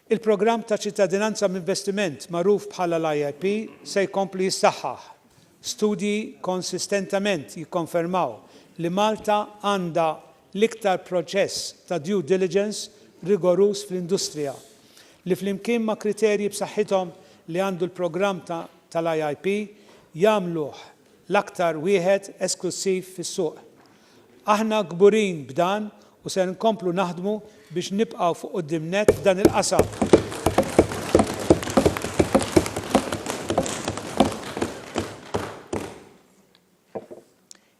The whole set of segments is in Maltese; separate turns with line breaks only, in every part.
Il-programm ta' ċittadinanza b'investiment magħruf bħala l-IIP se jkompli jissaħħaħ. Studji konsistentement jikkonfermaw li Malta għandha l-iktar proċess ta' due diligence rigoruż fl-industrija, li flimkien ma' kriterji b'saħħithom li għandu l-programm tal-IIP, jagħmluh l-aktar wieħed esklussiv fis-suq. Aħna kburin b'dan u ser inkomplu naħdmu biex nibqgħu fuq quddiem nett f'dan il-qasam.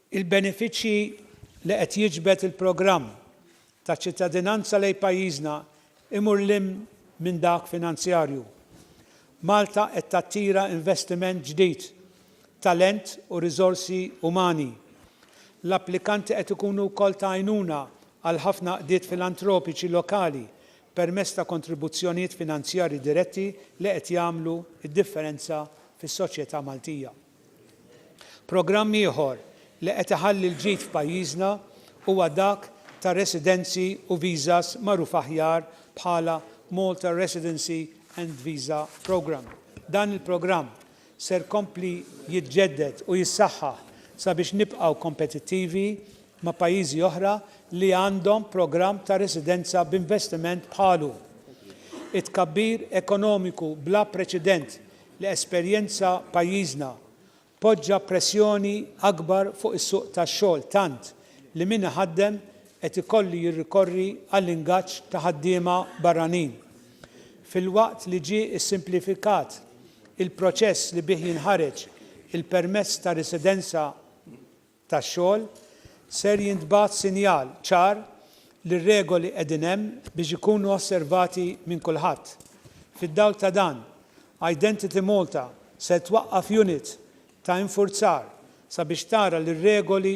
Il-benefiċċji li qed jiġbed il-programm ta' ċittadinanza lejn pajjiżna imur 'l hinn minn dak finanzjarju. Malta qed tattira investiment ġdid, talent u riżorsi umani. L-applikanti qed ikunu wkoll ta' għajnuna għal ħafna għaqdiet filantropiċi lokali permezz ta' kontribuzzjonijiet finanzjarji diretti li qed jagħmlu d-differenza fis-soċjetà Maltija. Programm ieħor li qed iħalli l-ġid f'pajjiżna huwa dak ta' residenzi u visas magħruf aħjar bħala Malta Residency and Visa Programme. Dan il-programm ser jkompli jiġġedded u jissaħħaħ sabiex nibqgħu kompetittivi ma' pajjiżi oħra li għandhom programm ta' residenza b'investiment bħalu. It-tkabbir ekonomiku bla preċedent li esperjenza pajjiżna poġġa pressjoni akbar fuq is-suq tax-xogħol tant li min iħaddem qed ikollu jirrikorri għall-ingaġġ ta' ħaddiema barranin. Filwaqt li ġie ssimplifikat il-proċess li bih jinħareġ il-permess ta' residenza, tax-xogħol, ser jintbagħat sinjal ċar li r-regoli qegħdin hemm biex ikunu osservati minn kulħadd. Fid-dawl ta' dan, Identity Malta ser twaqqaf unit ta' infurzar sabiex tara li r-regoli